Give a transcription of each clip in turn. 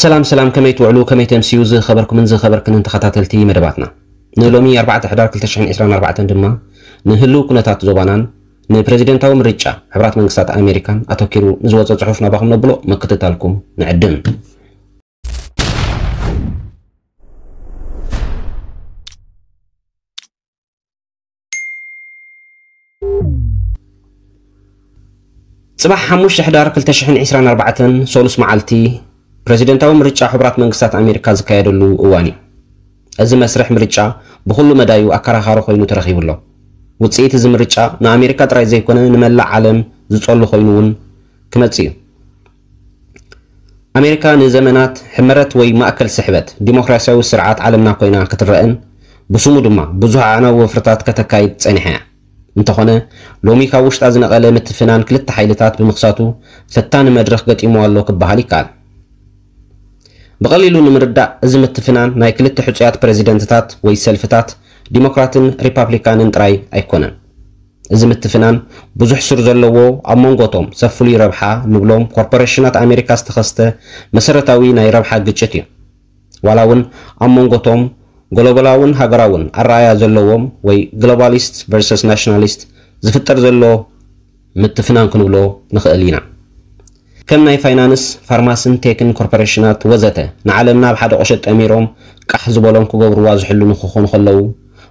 ሰላም ሰላም ከመይ ትውዕሉ ከመይ ተምስዩ ዝኸበርኩምን ዝኸበርክንን ተኸታተልቲ መደባትና ንሎሚ ኣርባዕተ ሕዳር ክልተ ሽሕን ዒስራን ኣርባዕተን ድማ ንህልው ኩነታት ዞባናን ንፕረዚደንታዊ ምርጫ ሕብራት መንግስታት ኣሜሪካን ኣተኪሩ ንዝወፀ ፅሑፍ ናባኹም ነብሎ ምክትታልኩም ንዕድም ፅባሕ ሓሙሽተ ሕዳር 2024 ሰሉስ መዓልቲ ፕረዚደንታዊ ምርጫ ሕቡራት መንግስታት ኣሜሪካ ዝካየደሉ እዋን እዩ። እዚ መስርሕ ምርጫ ብኹሉ መዳዩ ኣከራኻሪ ኮይኑ ተረኺቡ ኣሎ። ውፅኢት እዚ ምርጫ ንኣሜሪካ ጥራይ ዘይኮነ ንመላእ ዓለም ዝፀሉ ኮይኑ እውን ክመፅእ እዩ። ኣሜሪካ ንዘመናት ሕመረት ወይ ማእከል ስሕበት ዲሞክራሲያዊ ስርዓት ዓለምና ኮይና ክትረእን ብስሙ ድማ ብዙሕ ኣዕናዊ ወፍርታት ከተካይድ ጸኒሓ እያ። እንተኾነ ሎሚ ካብ ውሽጣ ዝነቐለ ምትፍናን ክልተ ሓይልታት ብምኽሳቱ ፈታኒ መድረኽ ገጢምዋ ኣሎ ክበሃል ይከኣል። ብቐሊሉ ንምርዳእ እዚ ምትፍናን ናይ ክልተ ሕጹያት ፕረዚደንትታት ወይ ሰልፍታት ዲሞክራትን ሪፓፕሊካንን ጥራይ ኣይኮነን። እዚ ምትፍናን ብዙሕ ሱር ዘለዎ ኣብ መንጎ እቶም ሰብ ፍሉይ ረብሓ ንብሎም ኮርፖረሽናት ኣሜሪካ ዝተኸስተ መሰረታዊ ናይ ረብሓ ግጭት እዩ። ዋላ እውን ኣብ መንጎ እቶም ጎሎባላውን ሃገራውን ኣረኣእያ ዘለዎም ወይ ግሎባሊስት ቨርሰስ ናሽናሊስት ዝፍጠር ዘሎ ምትፍናን ክንብሎ ንኽእል ኢና። ከም ናይ ፋይናንስ፣ ፋርማሲን ቴክን ኮርፖረሽናት ወዘተ ንዓለምና ኣብ ሓደ ቁሸት ጠሚሮም ቃሕ ዝበሎም ክገብሩዋ ዝሕልኑ ክኾኑ ከለዉ፣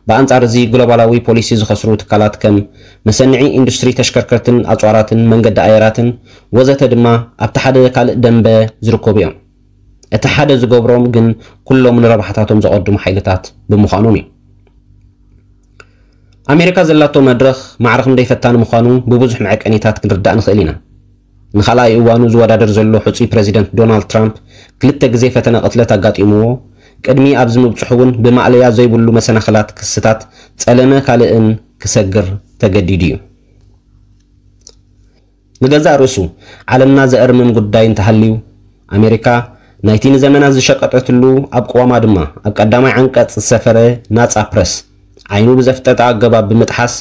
ብኣንጻር እዚ ግሎባላዊ ፖሊሲ ዝኸስሩ ትካላት ከም መሰንዒ ኢንዱስትሪ ተሽከርከርትን ኣጽዋራትን መንገዲ ኣየራትን ወዘተ ድማ ኣብቲ ሓደ ካልእ ደምበ ዝርከቡ እዮም። እቲ ሓደ ዝገብሮም ግን ኩሎም ንረብሓታቶም ዘቐድሙ ሓይልታት ብምዃኖም እዩ። ኣሜሪካ ዘላቶ መድረኽ ማዕረ ክንደይ ፈታኒ ምዃኑ ብብዙሕ መዐቀኒታት ክንርዳእ ንኽእል ኢና። ንኻልኣይ እዋኑ ዝወዳደር ዘሎ ሕጹይ ፕረዚደንት ዶናልድ ትራምፕ፣ ክልተ ግዜ ፈተነ ቅትለት ኣጋጢምዎ ቅድሚ ኣብዚ ምብጽሑ'ውን ብማእለያ ዘይብሉ መሰናኽላት ክስታት ጸለመ ካልእን ክሰግር ተገዲዱ'ዩ። ንገዛእ ርእሱ ዓለምና ዘእርምም ጉዳይ እንተሃልዩ፣ ኣሜሪካ ናይቲ ንዘመናት ዝሸቀጠትሉ ኣብ ቅዋማ ድማ ኣብ ቀዳማይ ዓንቀጽ ዝሰፈረ ናጻ ፕረስ፣ ዓይኑ ብዘፍጠጠ ኣገባብ ብምጥሓስ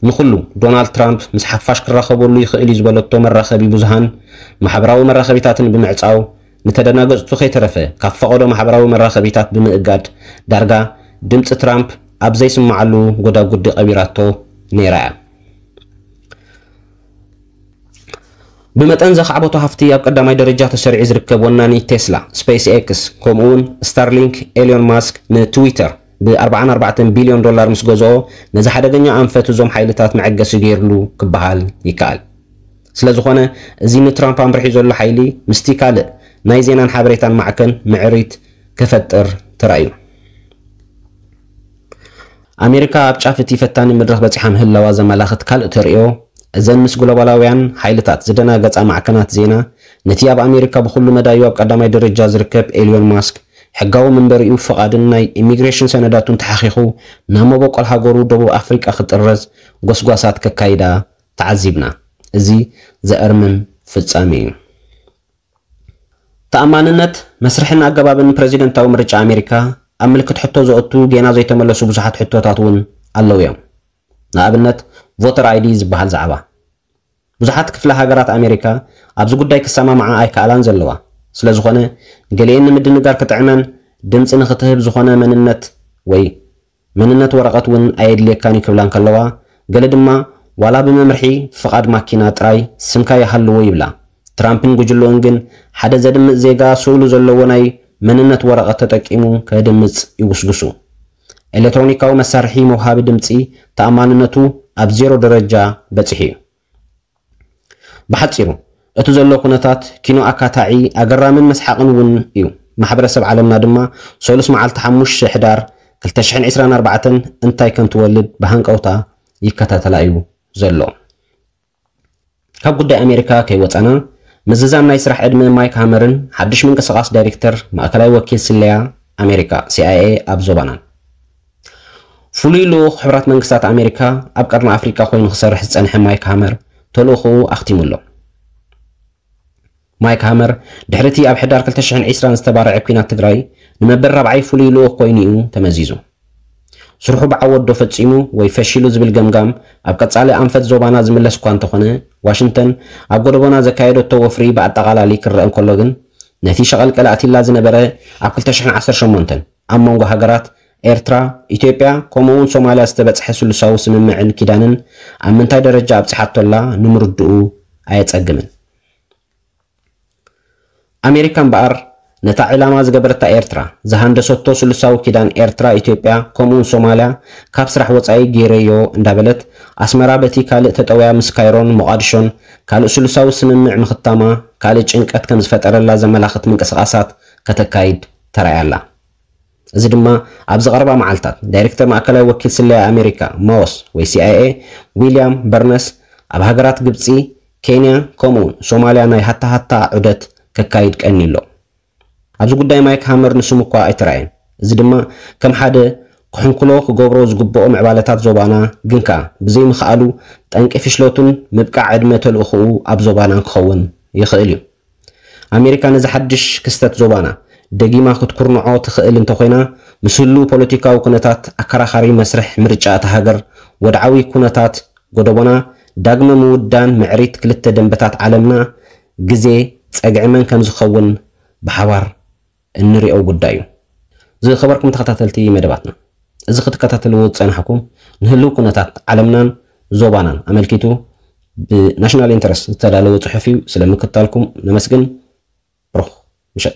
ንኹሉ ዶናልድ ትራምፕ ምስ ሓፋሽ ክራኸበሉ ይኽእል'ዩ ዝበለቶ መራኸቢ ብዙሃን ማሕበራዊ መራኸቢታትን ብምዕጻው ንተደናገጽቱ ከይተረፈ ካብ ፈቐዶ ማሕበራዊ መራኸቢታት ብምእጋድ ዳርጋ ድምጺ ትራምፕ ኣብ ዘይስማዓሉ ጎዳጉዲ ቀቢራቶ ነይራ'ያ። ብመጠን ዘኻዕበቶ ሃፍቲ ኣብ ቀዳማይ ደረጃ ተሰሪዑ ዝርከብ ወናኒ ቴስላ፣ ስፐይስ ኤክስ፣ ከምኡ'ውን ስታርሊንክ ኤልዮን ማስክ ንትዊተር፣ ብኣርብዓን ኣርባዕተን ቢልዮን ዶላር ምስ ገዝኦ፣ ነዚ ሓደገኛ ኣንፈት እዞም ሓይልታት መዐገሲ ገይርሉ ክበሃል ይከኣል። ስለዝኾነ እዚ ንትራምፕ ኣምሪሑ ዘሎ ሓይሊ ምስቲ ካልእ ናይ ዜናን ሓበሬታን ማዕከን ምዕሪት ከፈጥር ተራእዩ። ኣሜሪካ ኣብ ጫፍ እቲ ፈታኒ መድረኽ በጺሓ ምህላዋ ዘመላኽት ካልእ ተርእዮ፣ እዘን ምስ ግሎባላውያን ሓይልታት ዝደናገጻ ማዕከናት ዜና፣ ነቲ ኣብ ኣሜሪካ ብኹሉ መዳዩ ኣብ ቀዳማይ ደረጃ ዝርከብ ኤልዮን ማስክ፣ ሕጋዊ መንበሪኡ፣ ፍቓድን ናይ ኢሚግሬሽን ሰነዳቱን ተሓኺኹ ናብ መበቆል ሃገሩ ደቡብ ኣፍሪቃ ክጥረዝ ጎስጓሳት ከካይዳ ተዓዚብና። እዚ ዘእርምን ፍጻሜ እዩ። ተኣማንነት መስርሕን ኣገባብን ፕረዚደንታዊ ምርጫ ኣሜሪካ ኣብ ምልክት ሕቶ ዘእቱ ጌና ዘይተመለሱ ብዙሓት ሕቶታት እውን ኣለዉ እዮም። ንኣብነት ቮተር ኣይዲ ዝበሃል ዛዕባ። ብዙሓት ክፍለ ሃገራት ኣሜሪካ ኣብዚ ጉዳይ ክሰማምዓ ኣይከኣላን ዘለዋ። ስለዝኾነ ገሊኤን ንምድንጋር ክጥዕመን ድምጺ ንኽትህብ ዝኾነ መንነት ወይ መንነት ወረቐት እውን ኣየድልየካን እዩ ክብላ እንከለዋ ገለ ድማ ዋላ ብመምርሒ ፍቓድ ማኪና ጥራይ ስምካ ይሃልዎ ይብላ። ትራምፕን ጉጅልኡን ግን ሓደ ዘድምጽ ዜጋ ስእሉ ዘለዎ ናይ መንነት ወረቐት ተጠቂሙ ከድምጽ ይጉስጉሱ። ኤለትሮኒካዊ መሳርሒ መውሃቢ ድምጺ ተኣማንነቱ ኣብ ዜሮ ደረጃ በጺሑ እዩ። ብሓጺሩ እቲ ዘሎ ኩነታት ኪኖ ኣካታዒ፣ ኣገራምን መስሓቕን እውን እዩ። ማሕበረሰብ ዓለምና ድማ ሰሉስ መዓልቲ ሓሙሽተ ሕዳር ክልተ ሽሕን ዕስራን ኣርባዕተን እንታይ ከም ትወልድ ብሃንቀውታ ይከታተላ እዩ ዘሎ። ካብ ጉዳይ ኣሜሪካ ከይወፃና፣ ምዝዛም ናይ ስራሕ ዕድመ ማይክ ሃመርን ሓዱሽ ምንቅስቓስ ዳይሬክተር ማእከላይ ወኪል ስለያ ኣሜሪካ፣ CIA፣ ኣብ ዞባናን። ፍሉይ ልኡኽ ሕቡራት መንግስታት ኣሜሪካ ኣብ ቀርኒ ኣፍሪቃ ኮይኑ ክሰርሕ ዝፀንሐ ማይክ ሃመር ተልእኾኡ ኣኽቲሙ ኣሎ። ማይክ ሃመር ድሕሪ እቲ ኣብ ሕዳር ክልተ ሽሕን ዕስራን ዝተባረዐ ኲናት ትግራይ ንመበል ራብዓይ ፍሉይ ልኡኽ ኮይኑ'ዩ ተመዚዙ። ስርሑ ብዓወት'ዶ ፈጺሙ ወይ ፈሺሉ ዝብል ገምጋም ኣብ ቀጻሊ ኣንፈት ዞባና ዝምለስ'ኳ እንተኾነ፣ ዋሽንተን ኣብ ጎደቦና ዘካየደቶ ወፍሪ ብኣጠቓላሊ ክረኣ እንከሎ ግን ነቲ ሸቐልቀል ኣእትይላ ዝነበረ ኣብ ክልተ ሽሕን ዓሰርተ ሸሞንተን ኣብ መንጎ ሃገራት ኤርትራ፣ ኢትዮጵያ ከምኡ'ውን ሶማልያ ዝተበጽሐ ስሉሳዊ ስምምዕን ኪዳንን ኣብ ምንታይ ደረጃ ኣብጺሓቶ ኣላ ንምርድኡ ኣየጸግምን። ኣሜሪካ እምበኣር ነታ ዒላማ ዝገበረታ ኤርትራ፣ ዝሃንደሰቶ ስሉሳዊ ኪዳን ኤርትራ ኢትዮጵያ ከምኡውን ሶማልያ ካብ ስራሕ ወጻኢ ገይረዮ እንዳበለት፣ ኣስመራ በቲ ካልእ ተጠውያ ምስ ካይሮን ሞቓድሾን ካልእ ስሉሳዊ ስምምዕ ምኽታማ ካልእ ጭንቀት ከምዝፈጠረላ ዘመላኽት ምንቅስቓሳት ከተካይድ ተራእያ ኣላ። እዚ ድማ ኣብዚ ቀረባ መዓልታት ዳይሬክተር ማእከላይ ወኪል ስለያ ኣሜሪካ፣ ማውስ፣ ወይ ሲኣይኤ፣ ዊልያም በርነስ ኣብ ሃገራት ግብጺ፣ ኬንያ ከምኡ'ውን ሶማልያ ናይ ሃታሃታ ዑደት ከካይድ ቀንዩ ኣሎ። ኣብዚ ጉዳይ ማይክ ሃመር ንስሙ እኳ ኣይተራእየን፣ እዚ ድማ ከም ሓደ ክሕንኩሎ ክገብሮ ዝግብኦ ምዕባለታት ዞባና ግን ከኣ ብዘይምኽኣሉ ጠንቂ ፍሽለቱን ምብቃዕ ዕድመ ተልእኾኡ ኣብ ዞባና ክኸውን ይኽእል እዩ። ኣሜሪካ ነዚ ሓድሽ ክስተት ዞባና ደጊማ ክትኩርንዖ ትኽእል እንተኾይና፣ ምስ ህሉው ፖለቲካዊ ኩነታት ኣከራኻሪ መስርሕ ምርጫ እታ ሃገር፣ ወድዓዊ ኩነታት ጎደቦና፣ ዳግመ ምውዳን ምዕሪት ክልተ ደምበታት ዓለምና፣ ግዜ፣ ጸግዒ መን ከምዝኸውን ብሓባር። እንሪኦ ጉዳይ እዩ። ዝኸበርኩም ተኸታተልቲ መደባትና እዚ ክትከታተልዎ ዝፀናሕኩም ንህልው ኩነታት ዓለምናን ዞባናን ኣመልኪቱ ብ National Interest ዝተዳለወ ፅሑፍ እዩ ስለ ምክታልኩም ነመስግን ብሩኽ ምሸት።